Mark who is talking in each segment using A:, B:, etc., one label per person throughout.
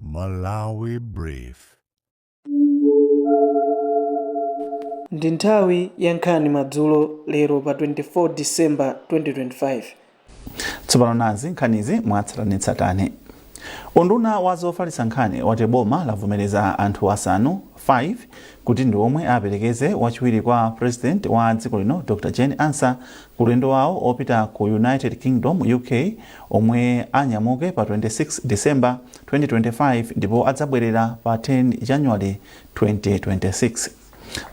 A: Malawi Brief.
B: Ndi nthawi ya nkhani madzulo lero pa 24 December 2025.
C: Tsopano nazi nkhanizi mwatsatanetsatane. Unduna wa zofalitsa nkhani wati boma lavomereza anthu asanu 5 kuti ndi omwe aperekeze wachiwiri kwa president wa dziko lino Dr Jane Ansah ku ulendo wawo opita ku United Kingdom, UK, omwe anyamuke pa 26 December, 2025 ndipo adzabwelera pa 10 January, 2026.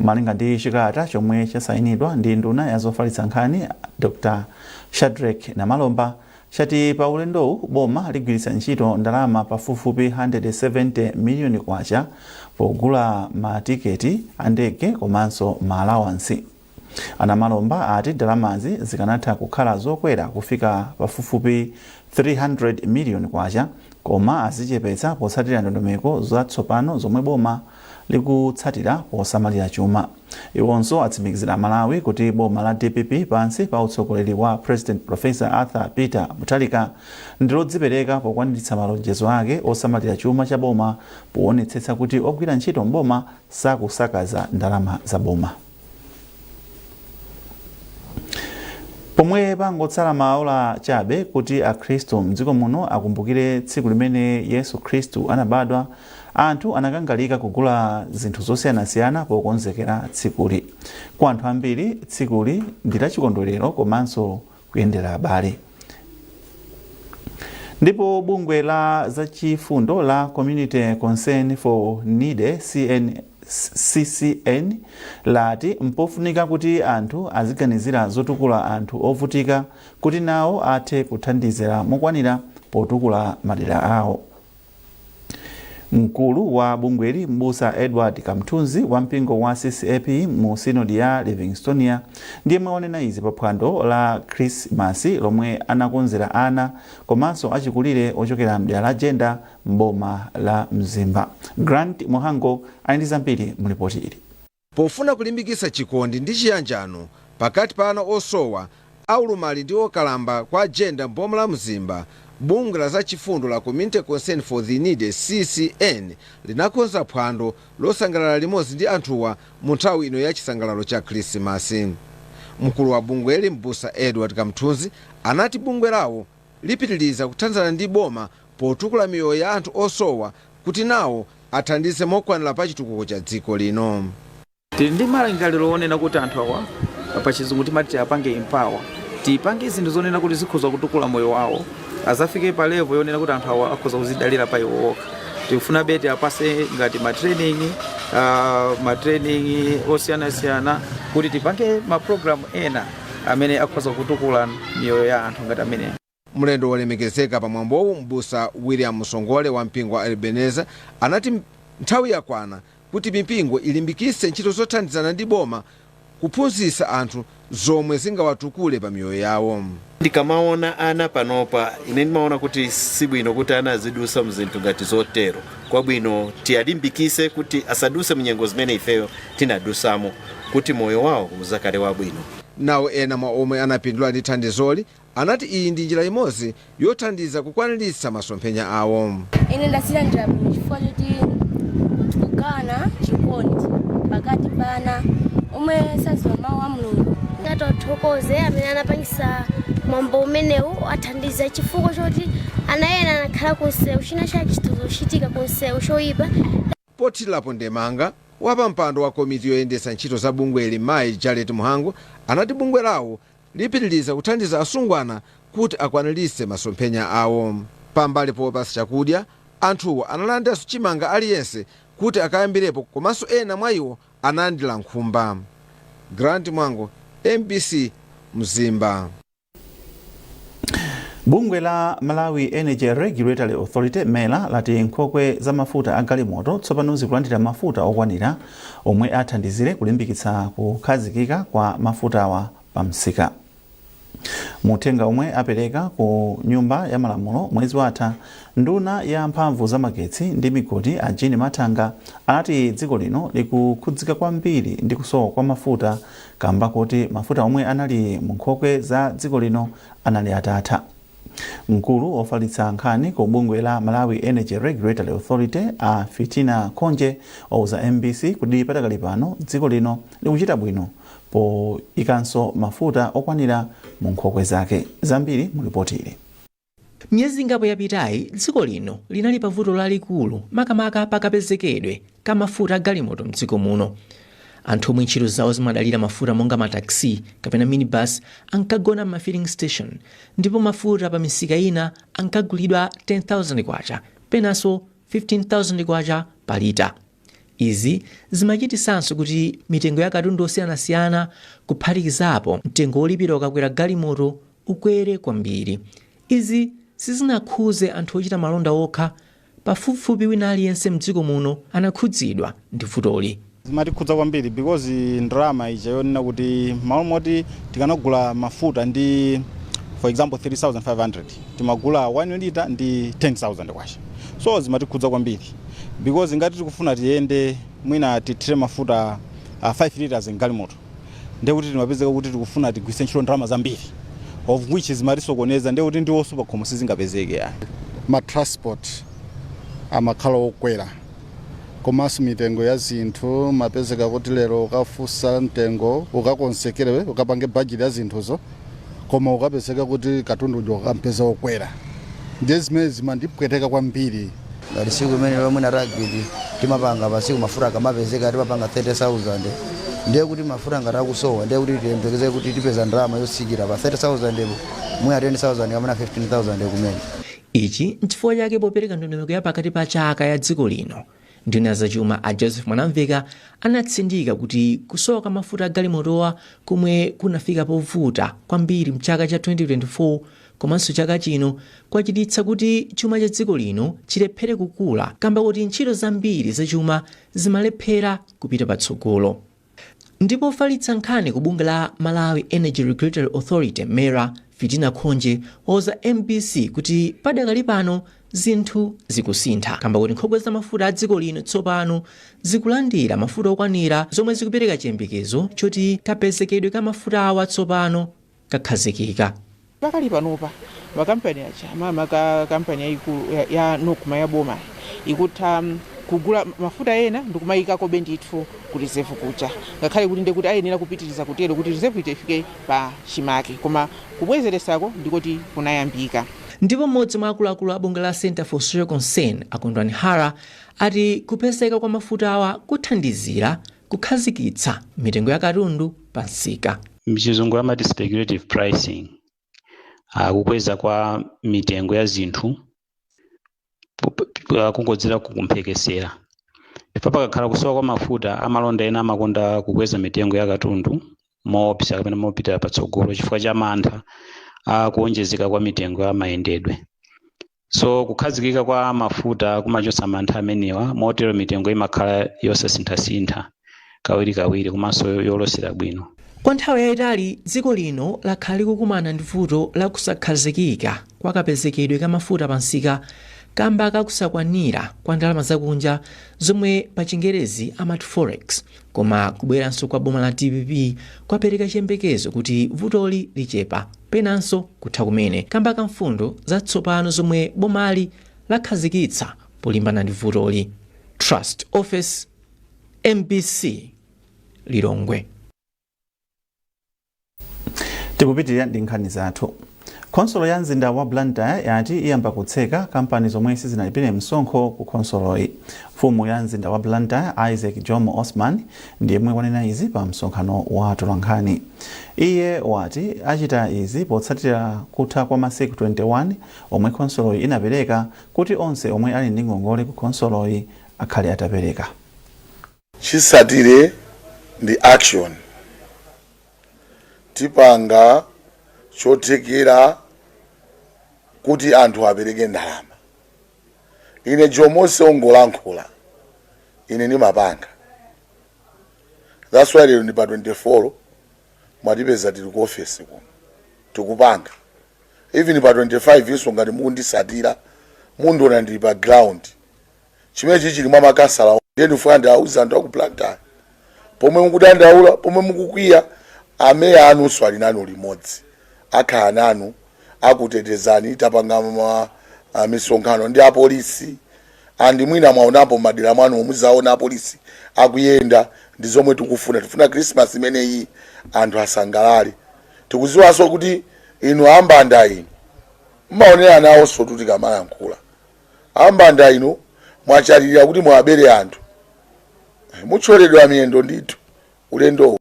C: Malinga ndi chikalata chomwe chasayinidwa ndi nduna ya zofalitsa nkhani Dr Shadreck Namalomba, chati pa ulendowu boma ligwiritsa ntchito ndalama pafupifupi 170 miliyoni kwacha pogula ma tiketi a ndege komanso ma alawansi. A Namalomba ati ndalamazi zikanatha kukhala zokwera kufika pafupifupi 300 miliyoni kwacha koma azichepetsa potsatira ndondomeko za tsopano zomwe boma likutsatira posamalira chuma. Iwonso atsimikizira aMalawi kuti boma la dpp pansi pa utsogoleri wa President Professor Arthur Peter Mutharika ndi lodzipereka pokwaniritsa malonjezo ake osamalira chuma cha boma powonetsetsa kuti ogwira ntchito m'boma sakusakaza ndalama za boma. pomwe pangotsala maola chabe kuti akhristu mdziko muno akumbukire tsiku limene yesu khristu anabadwa anthu anakangalika kugula zinthu zosiyanasiyana pokonzekera tsikuli kwa anthu ambiri tsikuli ndi lachikondwerero komanso kuyendera abale. Ndipo bungwe la zachifundo la Community Concern for Needy CCN lati mpofunika kuti anthu aziganizira zotukula anthu ovutika kuti nawo athe kuthandizira mokwanira potukula madera awo. Mkulu wa bungweli m'busa Edward Kamthunzi wa mpingo wa CCAP mu sinodi ya Livingstonia ndiyemwe wanena izi pa phwando la khrisimasi lomwe anakonzera ana komanso achikulire ochokera mdera la Jenda m'boma la Mzimba. Grant Muhango ali ndi zambiri mu lipoti ili. Pofuna kulimbikitsa
D: chikondi ndi chiyanjano pakati pa ana osowa, aulumali ndi okalamba kwa Jenda m'boma la Mzimba, bungwe la za chifundo la Community Concern for the Needy, CCN, linakonza phwando losangalala limodzi ndi anthuwa mu nthawi ino ya chisangalalo cha Khrisimasi. Mkulu wa bungweli M'busa Edward Kamthunzi anati bungwe lawo. lipitiliza kuthandizana ndi boma potukula miyoyo ya anthu osowa kuti nawo athandize mokwanila pa chitukuko cha dziko lino. Tili ndi
E: malingaliro onena kuti anthu awa pa chizungu timati tiapange empower, tipange zinthu zonena kuti zikhoza kutukula moyo wawo, azafike pa level yonena kuti anthu awa akhoza kuzidalira pa iwo okha. Tikufunabe tiapase ngati ma training, ma training osiyanasiyana kuti tipange ma program ena. amene akhoza kutukula miyoyo ya anthu ngati amene mlendo
D: wolemekezeka pamwambowu m'busa william musongole wa mpingo wa ebenezer anati nthawi yakwana kuti mipingo ilimbikitse ntchito zothandizana ndi boma kuphunzitsa anthu zomwe zingawatukule pa miyoyo yawo ndikamaona
F: ana panopa ine ndimaona kuti sibwino kuti ana azidusa mzinthu ngati zotero kwabwino tiwalimbikise kuti asaduse munyengo zimene ifeyo tinadusamo kuti moyo wawo uzakhale wabwino. Nawo ena mwa
D: omwe anapindula ndi thandizoli anati iyi ndi njira imodzi yothandiza kukwanilitsa masomphenya awo. Ine
G: ndazilandira bwino chifukwa choti tikugawana chikondi pakati pa ana omwe sadziwa mawu a Mulungu. Tatothokoze
H: amene anapangisa mwambo umenewu wa ndiza chifukwa choti ana ena anakhala ku msewu, china chake chikhoza kuchitika ku msewu choipa.
D: Pothirirapo ndemanga, wapampando wa komiti yoyendetsa ntchito za bungweli mayi Jalet Mhango anati bungwe lawo lipitiliza kuthandiza asungwana kuti akwanilitse masomphenya awo. Pambali popatsa chakudya, anthuwa analandiranso chimanga aliyense kuti akayambirepo komanso ena mwaiwo analandira nkhumba. Grant Mwango, mbc, Mzimba.
C: bungwe la malawi energy regulatory authority mera lati nkhokwe za mafuta a galimoto tsopano zikulandira mafuta okwanira omwe athandizire kulimbikitsa kukhazikika kwa mafutawa pa msika muthenga omwe apereka ku nyumba ya malamulo mwezi watha nduna ya mphamvu za magetsi ndi migodi a jean mathanga anati dziko lino likukhudzika kwambiri ndi kusowa kwa mafuta kamba koti mafuta omwe anali mu nkhokwe za dziko lino anali atatha. Mkulu ofalitsa nkhani ku bungwe la Malawi Energy Regulatory Authority a Fitina Khonje wauza mbc kuti padakali pano dziko lino likuchita bwino poikanso mafuta okwanira mu nkhokwe zake. Zambiri mu lipoti ili. Miyezi
I: ingapo yapitayi, dziko lino linali pa vuto lalikulu makamaka pa kapezekedwe ka mafuta a galimoto m'dziko muno. Anthu omwe ntchito zawo zimadalira mafuta monga ma taxi kapena minibus ankagona m'ma filling station ndipo mafuta pa misika ina ankagulidwa K10,000 penanso K15,000 pa lita. Izi zimachititsanso kuti mitengo ya katundu osiyanasiyana kuphatikizapo mtengo wolipira ukakwera galimoto ukwere kwambiri. Izi sizinakhuze anthu ochita malonda okha, pafupifupi wina aliyense mdziko muno anakhudzidwa ndi vutoli. Zimatikhudza kwambiri
J: because ndalama ija yonena kuti malo moti tikanagula mafuta ndi for example 3500 timagula 1 lita ndi 10000 kwacha so zimatikhudza kwambiri because ngati tikufuna tiyende mwina tithire mafuta uh, 5 liters mgalimoto ndiye kuti timapezeka kuti tikufuna tigwiritse ntchito ndalama zambiri of which zimatisokoneza ndiye kuti ndiwonso pakhomo sizingapezeke ya. ma transport
K: amakhala okwera komanso mitengo ya zinthu mapezeka kuti lero ukafunsa mtengo ukakonzekere ukapange bajeti ya zinthuzo koma ukapezeka kuti katundu uja ukampeza wokwera ndiye zimene zimandipweteka kwambiri ngati siku
L: imene lomwe na rugby timapanga pasiku mafuta akamapezeka timapanga 30000 ndiye kuti mafuta ngati akusowa ndiye kuti tiyembekeze kuti tipeza ndalama yotsika pa 30000 po mwina 10000 kapena 15000 kumene ichi
I: nchifukwa chake popereka ndondomeko ya pakati pa chaka ya dziko lino nduna ya zachuma a joseph mwanamveka anatsindika kuti kusowa kwa mafuta agalimotowa komwe kunafika povuta kwambiri mchaka cha 2024 Komanso chaka chino kwachititsa kuti chuma cha dziko lino chilephere kukula kamba kuti ntchito zambiri za chuma zimalephera kupita patsogolo. Ndipo ofalitsa nkhani ku bungwe la Malawi Energy Regulatory Authority, MERA, Fitina Khonje wauza mbc kuti padakali pano zinthu zikusintha kamba kuti nkhokwe za mafuta a dziko lino tsopano zikulandira mafuta okwanira zomwe zikupereka chiyembekezo choti kapezekedwe ka mafutawa tsopano kakhazikika.
M: Pakali panopa makampani aja makamaka kampani yaikulu ya, ya Nocma ya bomayi ikutha kugula mafuta ena ndikumayikakobe ndithu ku reserve kuja ngakhale kuti ndi kuti ayenera kupitiriza kutero kuti reserve ija ifike pa chimake koma kubwezeresako ndikoti kunayambika. Ndipo m'modzi
I: mwa akuluakulu a bungwe la Centre for Social Concern a Kondwani Hara ati kupezeka kwa mafutawa kuthandizira Kukhazikitsa mitengo ya katundu pa msika. Mchizungu
N: amati speculative pricing, kukweza kwa mitengo ya zinthu kungodzera ku mphekesera. Ndipo pakakhala kusowa kwa mafuta, amalonda ena amakonda kukweza mitengo ya katundu moopsa kapena mopitira patsogolo chifukwa cha mantha a kuwonjezeka kwa mitengo ya mayendedwe. so kukhazikika kwa mafuta kumachotsa mantha amenewa motero mitengo imakhala yosasinthasintha kawirikawiri komanso yolosera bwino Kwa nthawi yayitali
I: dziko lino lakhala likukumana ndi vuto la kusakhazikika kwa kapezekedwe ka mafuta pansika kamba ka kusakwanira kwa ndalama zakunja zomwe pa chingerezi amati forex Koma kubweranso kwa boma la DPP kwapereka chiyembekezo kuti vutoli lichepa, penanso kutha kumene, kamba ka mfundo zatsopano zomwe bomali lakhazikitsa polimbana ndi vutoli. Trust Ofesi, MBC, Lilongwe.
C: tikupitirira ndi nkhani zathu khonsolo ya mzinda wa blantyre yati iyamba kutseka kampani zomwe sizinalipire msonkho ku khonsoloyi mfumu ya mzinda wa blantyre isaac jomo osman ndi yemwe wanena izi pa msonkhano wa atolankhani iye wati achita izi potsatira kutha kwa masiku 21 omwe khonsoloyi inapereka kuti onse omwe ali ndi ngongole ku khonsoloyi akhale atapereka
K: Chotsatira ndi action. Tipanga chothekera kuti anthu apereke ndalama. Ine Jomo si ongolankhula ine ndi mapanga. That's why lero ndi pa 24 mwatipeza tili ku office kuno tikupanga. Even pa 25 inso ngati mukunditsatira mundiona ndili pa ground. chimene chili mwa makasala ndiye ndifuna ndiwauze anthu aku Blantyre pomwe mukudandaula pomwe mukukwiya ameya anu ali nanu limodzi akhala nanu
O: akutetezani tapanga ma ah, misonkhano ndi apolisi andi mwina mwaonapo madera mwanu muzaona apolisi akuyenda ndi zomwe tikufuna tifuna krismas imeneyi anthu asangalale tikuziwanso kuti inu ambanda inu mmaonera nawonso tutikamalankhula ambanda inu mwachalilira kuti muwabere anthu muthyoledwa miyendo ndithu ulendowu.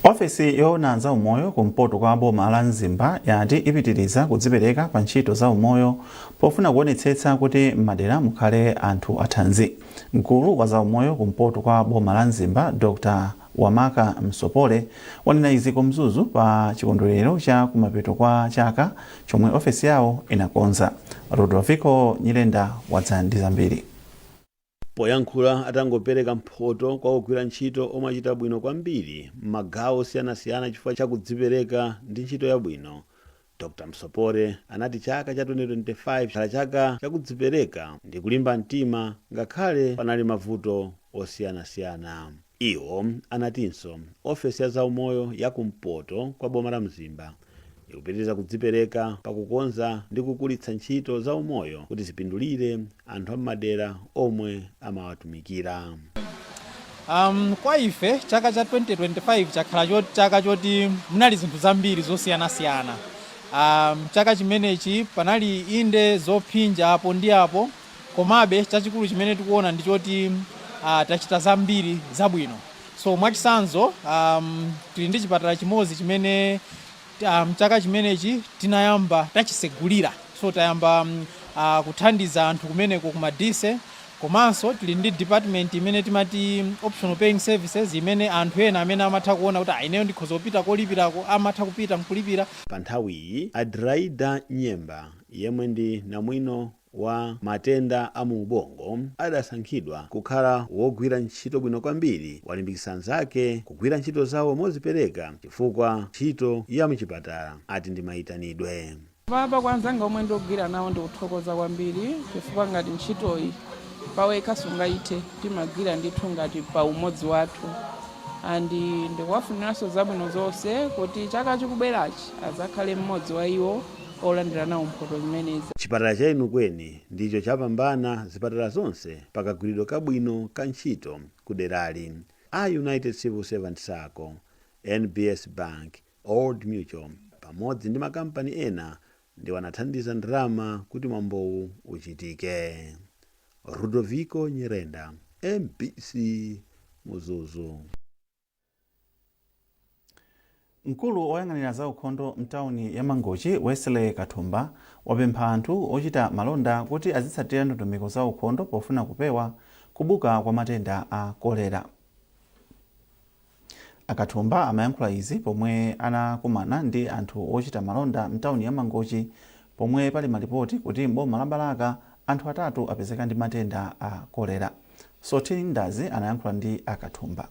C: ofesi yoona za umoyo kumpoto kwa boma la mzimba yati ipitiriza kudzipereka pa ntchito za umoyo pofuna kuonetsetsa kuti m'madera mukhale anthu athanzi mkulu wa za umoyo kumpoto kwa boma la mzimba dr Wamaka Msopole wanena izi ku Mzuzu pa chikondwerero cha kumapeto kwa chaka chomwe ofesi yawo inakonza. Rudovico Nyirenda wadza ndi zambiri.
P: Poyankhula atangopereka mphoto kwa ogwira ntchito omwe achita bwino kwambiri m'magawo osiyanasiyana chifukwa cha kudzipereka ndi ntchito yabwino, Dr. Msopole anati chaka cha 2025 chakhala chaka cha kudzipereka ndi kulimba mtima ngakhale panali mavuto osiyanasiyana. Iwo anatinso ofesi ya zaumoyo ya ku mpoto kwa boma la Mzimba ikupitiriza kudzipereka pa kukonza ndi kukulitsa ntchito za umoyo kuti zipindulire anthu a m'madera omwe
Q: amawatumikira. Um, kwa ife chaka cha 2025 chakhala chot, chaka choti munali zinthu zambiri zosiyanasiyana. Um, chaka chimenechi panali inde zophinja apo ndi apo, komabe chachikulu chimene tikuona ndi choti uh, tachita zambiri zabwino. So mwachitsanzo um, tili ndi chipatala chimodzi chimene Mchaka chimenechi tinayamba tachisegulira so tayamba kuthandiza anthu kumeneko ku Madise komanso tili ndi department imene timati optional paying services imene anthu ena amene amatha kuona kuti ayi ineyo ndikhoza kupita kolipirako amatha kupita nkulipira. Panthawiyi
P: Adelaida Nyemba yemwe ndi namwino wa matenda a mu ubongo adasankhidwa kukhala wogwira ntchito bwino kwambiri walimbikitsa anzake kugwira ntchito zawo mozipereka chifukwa ntchito ya mchipatala ati ndi maitanidwe. Apapa kwa anzanga
R: omwe ndagwira nawo ndikuthokoza kwambiri chifukwa ngati ntchitoyi pawekha sungaithe timagwira ndithu ngati pa umodzi wathu and ndikuwafuniranso zabwino zonse kuti chaka chikubwerachi azakhale mmodzi wa iwo olandira nawo mphoto zimenezi. Chipatala cha
P: Enukweni ndicho chapambana zipatala zonse pa kagwiridwe kabwino ka ntchito ku derali, a United Civil Servant Sacco, NBS Bank, Old Mutual pamodzi ndi makampani ena ndiwo anathandiza ndalama kuti mwambowu uchitike. Rudoviko Nyirenda, MBC, Mzuzu.
C: Mkulu oyang'anira za ukhondo mtauni ya Mangochi, Wesley Kathumba, wapempha anthu ochita malonda kuti azitsatira ndondomeko za ukhondo pofuna kupewa kubuka kwa matenda a kolera. A Kathumba amayankhula izi pomwe anakumana ndi anthu ochita malonda mtauni ya Mangochi Pomwe pali malipoti kuti m'boma la Balaka anthu atatu apezeka ndi matenda a kolera, Sothini Ndazi anayankhula ndi a Kathumba.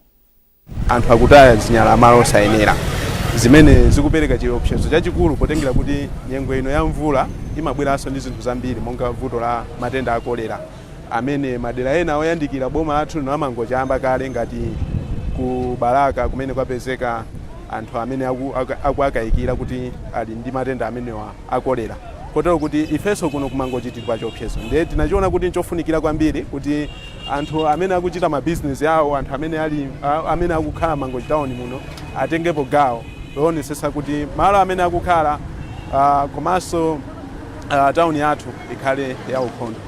C: Anthu
S: akutaya zinyalala malo osayenera zimene zikupereka chiopsezo chachikulu potengera kuti nyengo ino ya mvula imabweranso ndi zinthu zambiri monga vuto la matenda a kolera. amene madera ena oyandikira boma lathu lino la Mangochi ayamba kale ngati ku Balaka kumene kwapezeka anthu amene akuwakayikira kuti ali ndi matenda amenewa a kolera kotero kuti ifenso kuno ku Mangochi tili pa chiopsezo ndiye tinachiona kuti nchofunikira kwambiri kuti anthu amene akuchita mabizinesi awo, anthu amene akukhala Mangochi tawuni muno atengepo gawo loonetsetsa kuti malo amene akukhala komanso tawuni yathu ikhale yaukhondo.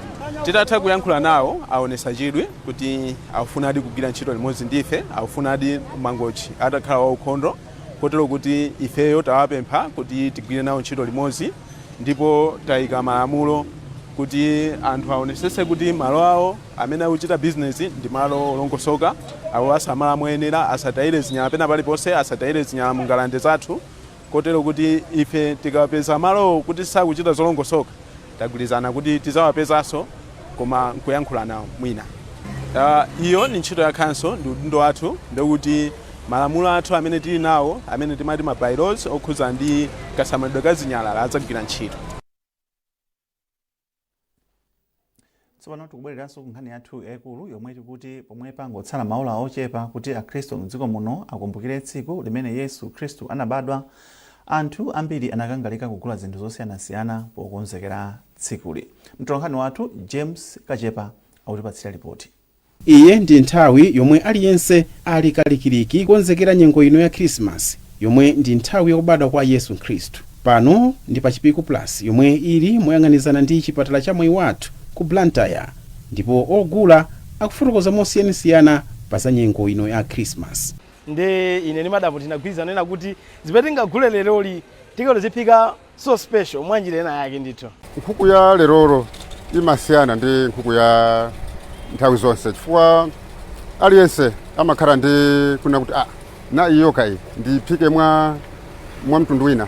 S: Titatha kuyankhula nawo, aonetsa chidwi kuti akufunadi kugwira ntchito limodzi ndi ife, akufunadi Mangochi atakhala waukhondo kotero kuti ifeyo tawapempha kuti tigwire nawo ntchito limodzi ndipo taika malamulo kuti anthu aonetsetse kuti malo awo amene akuchita bizinesi ndi malo olongosoka, akuwasamala moyenera, asatayire zinyala pena paliponse, asatayire zinyala mu ngalande zathu. Kotero kuti ife tikawapeza malowo kuti sakuchita zolongosoka, tagwirizana kuti tidzawapezanso koma nkuyankhula nawo mwina. Uh, iyo ndi ntchito ya khanso, ndi udindo wathu, ndi kuti malamulo athu amene tili nawo amene timati ma bylaws okhudza ndi kasamalidwe ka zinyalala adzagwira ntchito.
C: tsopano tikubwereranso ku nkhani yathu yayikulu yomwe tikuti pomwe pangotsala maola ochepa kuti akhristu mdziko muno akumbukire tsiku limene yesu khristu anabadwa anthu ambiri anakangalika kugula zinthu zosiyanasiyana pokonzekera tsikuli mtolankhani wathu james kachepa akutipatsira lipoti Iyi
T: ndi nthawi yomwe aliyense ali kalikiliki kukonzekera nyengo ino ya Khirisimasi yomwe ndi nthawi ya kubadwa kwa Yesu Khristu. Pano ndi pa Chipiku Plus yomwe ili moyang'anizana ndi chipatala cha Mwaiwathu ku Blantyre ndipo ogula akufotokoza mosiyanasiyana pa za nyengo ino ya Khirisimasi. Nde ine
U: ndi madam tinagwirizana kunena kuti zimene tingagule leroli tikati tiziphika So special, mwanjira ena yake ndithu. Nkhuku ya lerolo
V: imasiyana ndi nkhuku ya nthawi zonse chifukwa aliyense amakhala ndi kuna kuti ah, na iyo kayi ndiphike mwa, mwa mtundu wina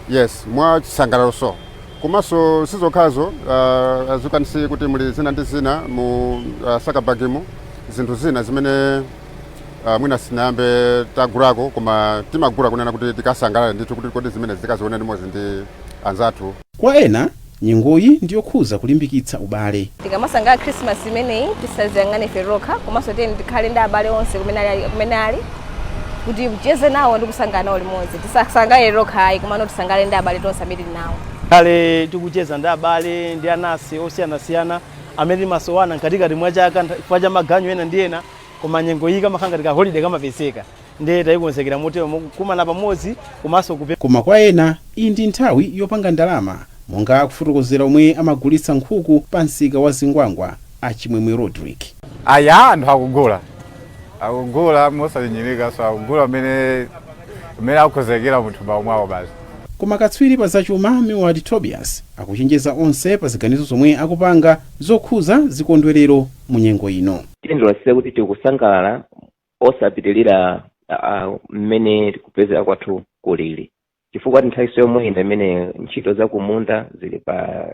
V: yes mwa chisangalalo so komanso sizokhazo uh, as you can see kuti muli zina ndi zina mu uh, sakabagimo zinthu zina zimene Uh, mwina sinayambe tagulako koma timagula kunena kuti tikasangalale ndithu kuti kodi zimene zikazione limodzi ndi anzathu kwa ena
T: nyengoyi ndiyokhuza kulimbikitsa ubale tikamasangalala khrisimasi
W: imeneyi tisaziyang'ane ife tokha komanso tiyeni tikhale ndi abale onse kumene ali- kumene ali kuti ticheze nawo ndi kusangalala nawo limodzi tisasangalale tokha ayi komano tisangalale ndi abale tonse amene tili nawo tikhale tikucheza
U: ndi abale ndi anansi osiyanasiyana amene timasowana mkatikati mwa chaka ntha- chifukwa cha maganyu ena ndi ena koma nyengo iyi kamakhala ngati kaholide kamapezeka ndiye tayikonzekera motero mokumana pamodzi komanso kupe koma kwa ena iyi
T: ndi nthawi yopanga ndalama monga akufotokozera omwe amagulitsa nkhuku pa msika wa zingwangwa a chimwemwe rodrick aya anthu
X: akugula akugula mosanyinyirika so akugula mmene mmene akukonzekera munthu mawu mwawo basi Koma katswiri
T: pa zachuma Meward Tobias akuchenjeza onse pa ziganizo zomwe akupanga zokhuza zikondwelero mu nyengo ino. Tiyeni tionetsetse kuti
Y: tikusangalala osapitilira mmene kupezera kwathu kulili chifukwa nthawinso yomweyino imene ntchito zakumunda zili pa.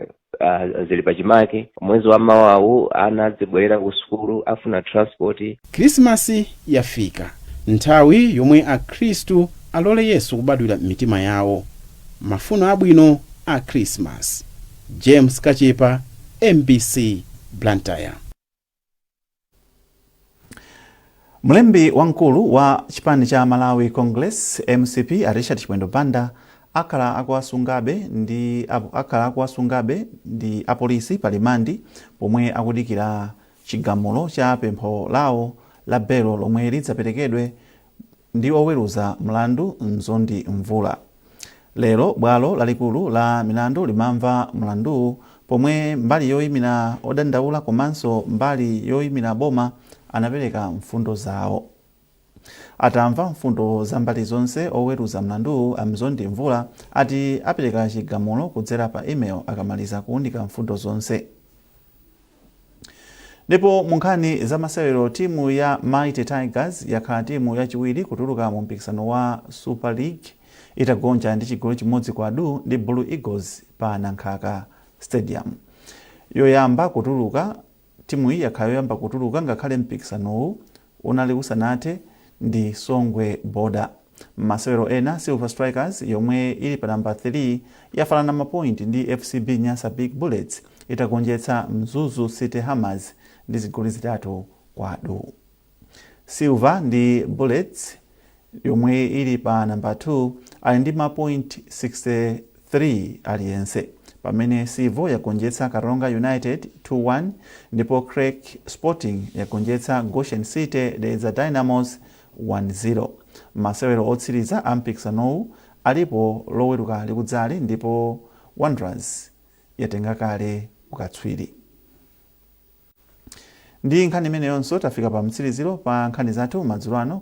Y: zili pachimake mwezi wa mawawu, ana azibwerera ku sukulu afuna transport khrisimasi
T: yafika nthawi yomwe akhristu alole yesu kubadwira m'mitima yawo mafuno abwino a khrisimasi james kachepa mbc blantyre
C: Mlembi wamkulu wa chipani cha Malawi Congress, mcp, a Richard Chimwendo Banda akhala akuwasungabe ndi apolisi pa limandi pomwe akudikira chigamulo cha pempho lawo la belo lomwe lidzaperekedwe ndi oweruza mlandu Mzondi Mvula. Lero bwalo lalikulu la milandu limamva mlanduwu pomwe mbali yoimira odandaula komanso mbali yoimira boma anapereka mfundo zawo. Atamva mfundo za mbali zonse, oweruza mlanduwu a Mzondi Mvula ati apereka chigamulo kudzera pa email akamaliza kuunika mfundo zonse. Ndipo mu nkhani za masewero timu ya Mighty Tigers yakhala timu yachiwiri kutuluka mu mpikisano wa Super League itagonja ndi chigoli chimodzi kwa du ndi Blue Eagles pa Nankhaka Stadium. Yoyamba Timu iyi yakhala yoyamba kutuluka ngakhale mpikisanowu unali usanathe ndi Songwe Border. Mmasewero ena, Silver Strikers yomwe ili pa number 3 yafanana ma point ndi FCB Nyasa Big Bullets itagonjetsa Mzuzu City Hammers ndi zigoli zitatu kwa du. Silver ndi Bullets. yomwe ili pa namba 2 ali ndi mapoint 63 aliyense pamene Civo yagonjetsa Karonga United 2-1 ndipo Creck Sporting yagonjetsa Goshen City Dedza Dynamos 1-0. Masewero otsiriza a mpikisanowu alipo loweruka likudzali ndipo Wanderers yatenga kale ukatswiri. Ndi nkhani imeneyonso tafika pa mtsiriziro pa nkhani zathu madzulo ano.